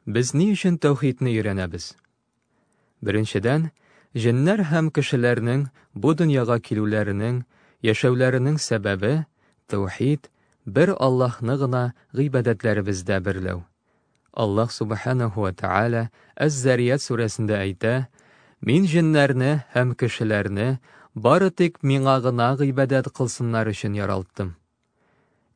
Без ни өчен тәүхидне өйрәнәбез? Беренчедән, җеннәр һәм кешеләрнең бу дөньяга килүләренең, яшәүләренең сәбәбе, тәүхид, бер Аллаһны гына гыйбадәтләребездә берләү. Аллаһ Субханаһу ва Тааля Әз-Зарият сүрәсендә әйтә, Мин җеннәрне һәм кешеләрне бары тик миңа гына гыйбадәт кылсыннар өчен яралттым.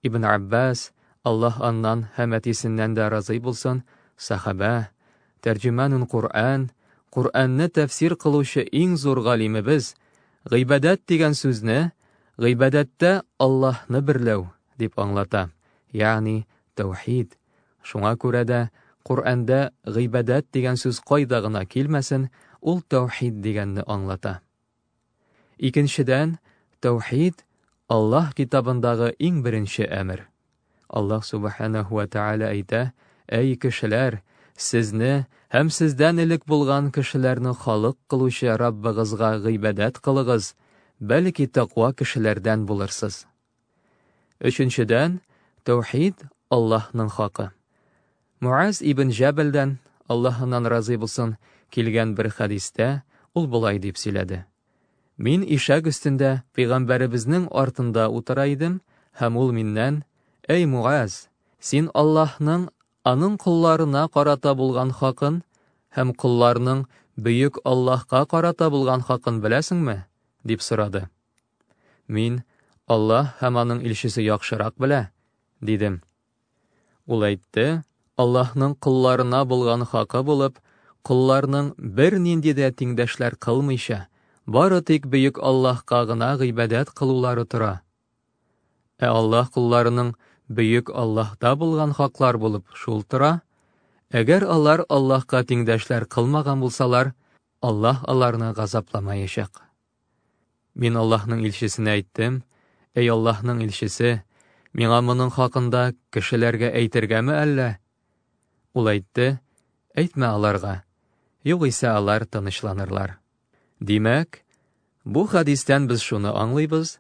Ибн Аббас, Аллаһ аннан һәм әтисеннән дә разый булсын, сәхабә, тәрҗеманун Куръән, Куръәнне тәфсир кылучы иң зур галимебез, гыйбадәт дигән сүзне гыйбадәттә Аллаһны берләү дип аңлата, ягъни тәүхид. Шуңа күрә дә Куръәндә гыйбадәт дигән сүз кайда гына килмәсен, ул тәүхид дигәнне аңлата. Икенчедән, тәүхид, Аллаһ Китабындагы иң беренче әмер. Аллаһ Субханәһү вә Тәгалә әйтә, Әй кешеләр, сезне һәм сездән элек булган кешеләрне халык кылучы Раббыгызга гыйбадәт кылыгыз, бәлки тәкъва кешеләрдән булырсыз. Өченчедән, тәүхид, Аллаһның хакы. Муаз ибн Җәбәлдән, Аллаһ аннан разый булсын, килгән бер хәдистә ул болай дип сөйләде, Мин ишәк өстендә пәйгамбәребезнең артында утыра идем һәм ул миннән, Әй Муаз, син Аллаһның аның колларына карата булган хакын һәм колларның Бөек Аллаһка карата булган хакын беләсеңме? дип сорады. Мин, Аллаһ һәм аның илчесе яхшырак белә, дидем. Ул әйтте, Аллаһның колларына булган хакы булып, колларның бернинди дә тиңдәшләр кылмыйча, бары тик бөек Аллаһка гына гыйбадәт кылулары тора. Ә Аллаһ кулларының бөек Аллаһта булган хаклар булып шул тора. Әгәр алар Аллаһка тиңдәшләр кылмаган булсалар, Аллаһ аларны газапламаячак. Мин Аллаһның илчесенә әйттем, Әй Аллаһның илчесе, миңа моның хакында кешеләргә әйтергәме әллә? Ул әйтте, Әйтмә аларга, югыйсә алар тынычланырлар. Димәк, бу хәдистән без шуны аңлыйбыз,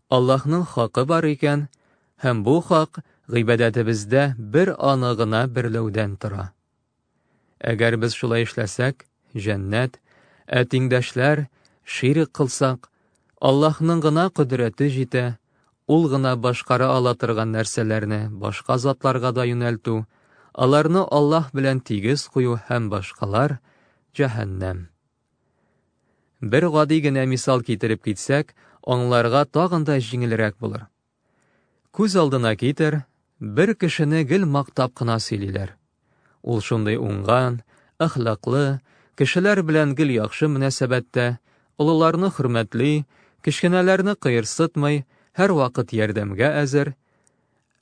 Аллаһның хакы бар икән, һәм бу хак гыйбадәтебездә бер аны гына берләүдән тора. Әгәр без шулай эшләсәк, җәннәт, ә тиңдәшләр ширк кылсак, Аллаһның гына кодрәте җитә, ул гына башкара ала торган нәрсәләрне башка затларга да юнәлтү, аларны Аллаһ белән тигез кую һәм башкалар җәһәннәм. Бер гади генә мисал китереп китсәк, аңларга тагын да җиңелрәк булыр. Күз алдына китер, бер кешене гел мактап кына сөйлиләр. Ул шундый уңган, әхлаклы, кешеләр белән гел яхшы мөнәсәбәттә, олыларны хөрмәтли, кечкенәләрне кыерсытмый, һәрвакыт ярдәмгә әзер.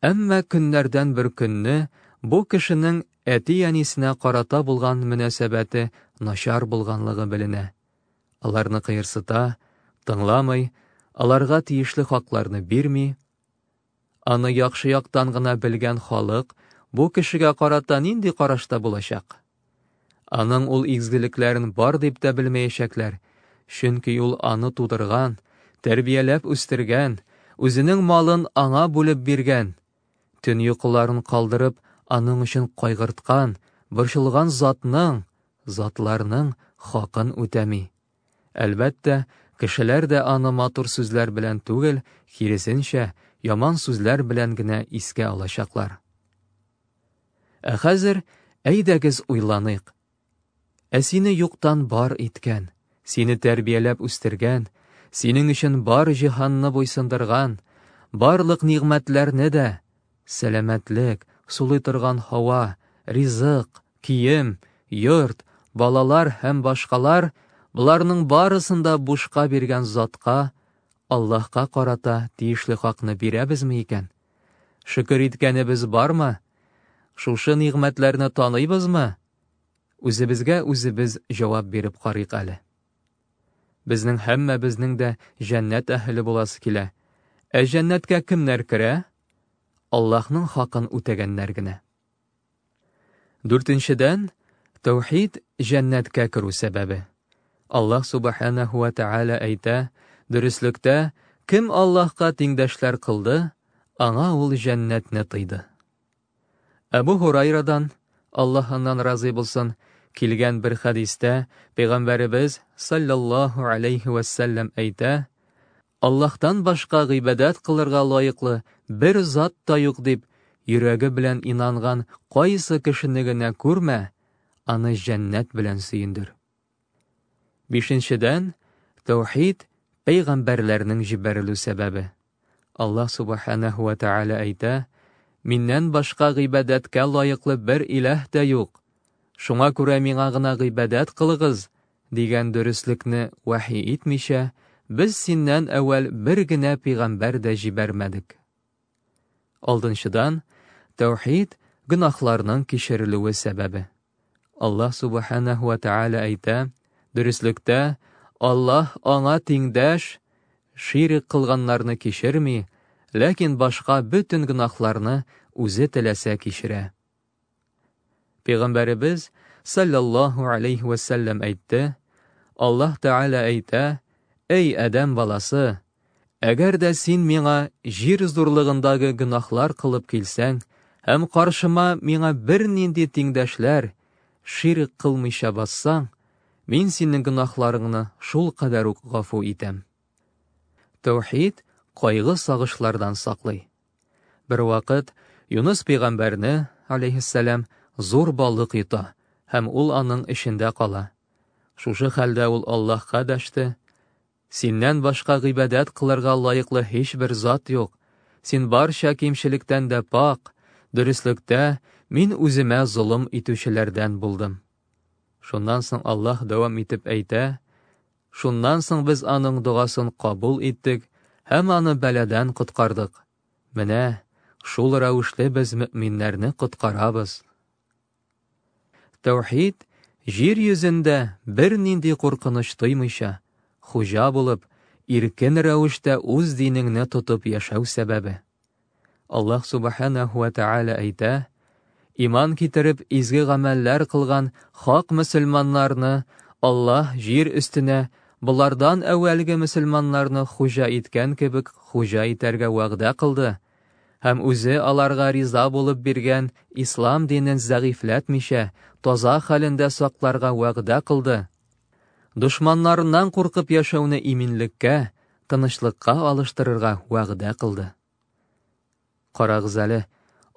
Әмма көннәрдән бер көнне бу кешенең әти-әнисенә карата булган мөнәсәбәте начар булганлыгы беленә. аларны кыерсыта, тыңламый, аларга тиешле хакларны бирми. Аны яхшы яктан гына белгән халык бу кешегә карата нинди карашта булачак? Аның ул изгелекләрен бар дип тә белмәячәкләр, чөнки ул аны тудырган, тәрбияләп үстергән, үзенең малын аңа бүлеп биргән, Төн йокыларын калдырып, аның өчен кайгырткан, борчылган затның, затларның хакын үтәми. Әлбәттә, кешеләр дә аны матур сүзләр белән түгел, киресенчә, яман сүзләр белән генә искә алачаклар. Ә хәзер әйдәгез уйланыйк. Ә сине юктан бар иткән, сине тәрбияләп үстергән, синең өчен бар җиһанны буйсындырган, барлык нигъмәтләрне дә, сәламәтлек, сулый торган һава, ризык, кием, йорт, балалар һәм башкалар, боларның барысын да бушка биргән Затка, Аллаһка карата тиешле хакны бирәбезме икән? Шөкер иткәнебез бармы? Шушы нигъмәтләрне таныйбызмы? Үзебезгә үзебез җавап биреп карыйк әле. Безнең һәммәбезнең дә җәннәт әһеле буласы килә. Ә җәннәткә кемнәр керә? Аллаһның хакын үтәгәннәр генә. Дүртенчедән, тәүхид җәннәткә керү сәбәбе. Аллаһ субханаһу ва тәгалә әйтә, дөреслектә, кем Аллаһка тиңдәшләр кылды, аңа ул җәннәтне тыйды. Әбу Хурайрадан, Аллаһ аннан разый булсын, килгән бер хәдистә Пәйгамбәребез саллаллаһу алейхи вәссәлләм әйтә, Аллаһтан башка гыйбадәт кылырга лаеклы бер зат та юк дип йөрәге белән инанган кайсы кешене генә күрмә, аны җәннәт белән сөендер. Бишенчедән, тәүхид, пәйгамбәрләрнең җибәрелү сәбәбе. Аллаһ Субханәһү вә Тәгалә әйтә, Миннән башка гыйбадәткә лаеклы бер иләһ тә юк. Шуңа күрә миңа гына гыйбадәт кылыгыз, дигән дөреслекне вәхи итмичә, без синнән әүвәл бер генә пигамбәр дә җибәрмәдек. Алдынчыдан, тәүхид, гөнаһларның кичерелүе сәбәбе. Аллаһ Субханәһу вә Тәгалә әйтә, Дөреслектә, Аллаһ аңа тиңдәш, ширек кылганнарны кичерми, ләкин башка бөтен гөнаһларны үзе теләсә кичерә. Пәйгамбәребез саллаллаһу алейхи ва сәлләм әйтте, Аллаһ Тәгалә әйтә, Әй Адәм баласы, әгәр дә син миңа җир зурлыгындагы гөнаһлар кылып килсәң, һәм каршыма миңа бер нинди тиңдәшләр, ширк кылмыйча бассаң, мин синең гөнаһларыңны шул кадәр үк гафу итәм. Тәүхид кайгы-сагышлардан саклый. Бер вакыт Юныс пәйгамбәрне, алейһиссәлам, зур балык йота һәм ул аның эчендә кала. Шушы хәлдә ул Аллаһка дәште, Синнән башка гыйбадәт кылырга лаеклы һичбер зат юк, син барча кимчелектән дә пак, дөреслектә мин үземә золым итүчеләрдән булдым. Шуннан соң Аллаһ дәвам итеп әйтә, Шуннан соң без аның догасын кабул иттек һәм аны бәладән коткардык. Менә шул рәвешле без мөэминнәрне коткарабыз. Тәүхид җир йөзендә бернинди куркыныч тоймыйча, хуҗа булып, иркен рәвештә үз динеңне тотып яшәү сәбәбе. Аллаһ Субханәһу вә Тәгалә әйтә, Иман китереп, изге гамәлләр кылган хак мөселманнарны Аллаһ җир өстенә болардан әүвәлге мөселманнарны хуҗа иткән кебек хуҗа итәргә вәгъдә кылды һәм үзе аларга риза булып биргән ислам динен зәгыйфьләтмичә, таза хәлендә сакларга вәгъдә кылды. Дошманнарыннан куркып яшәүне иминлеккә, тынычлыкка алыштырырга вәгъдә кылды. Карагыз әле,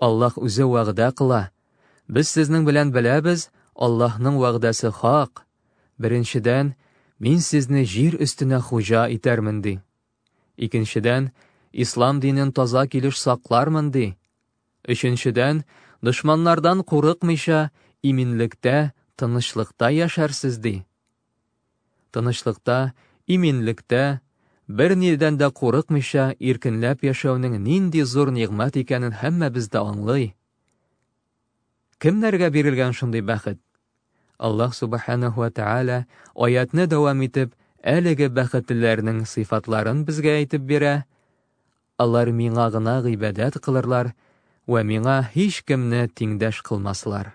Аллаһ үзе вәгъдә кыла. Без сезнең белән беләбез, Аллаһның вәгъдәсе хак. Беренчедән, мин сезне җир өстенә хуҗа итәрмен, ди. Икенчедән, ислам динен таза килеш саклармын, ди. Өченчедән, дошманнардан курыкмыйча, иминлектә, тынычлыкта яшәрсез, ди. Тынычлыкта, иминлектә, бернидән дә курыкмыйча иркенләп яшәүнең нинди зур нигъмәт икәнен һәммәбез дә аңлый. Кемнәргә бирелгән шундый бәхет? Аллаһ Субханәһу ва Тәгалә аятьне дәвам итеп, әлеге бәхетлеләрнең сыйфатларын безгә әйтеп бирә, Алар Миңа гына гыйбадәт кылырлар вә Миңа һичкемне тиңдәш кылмаслар.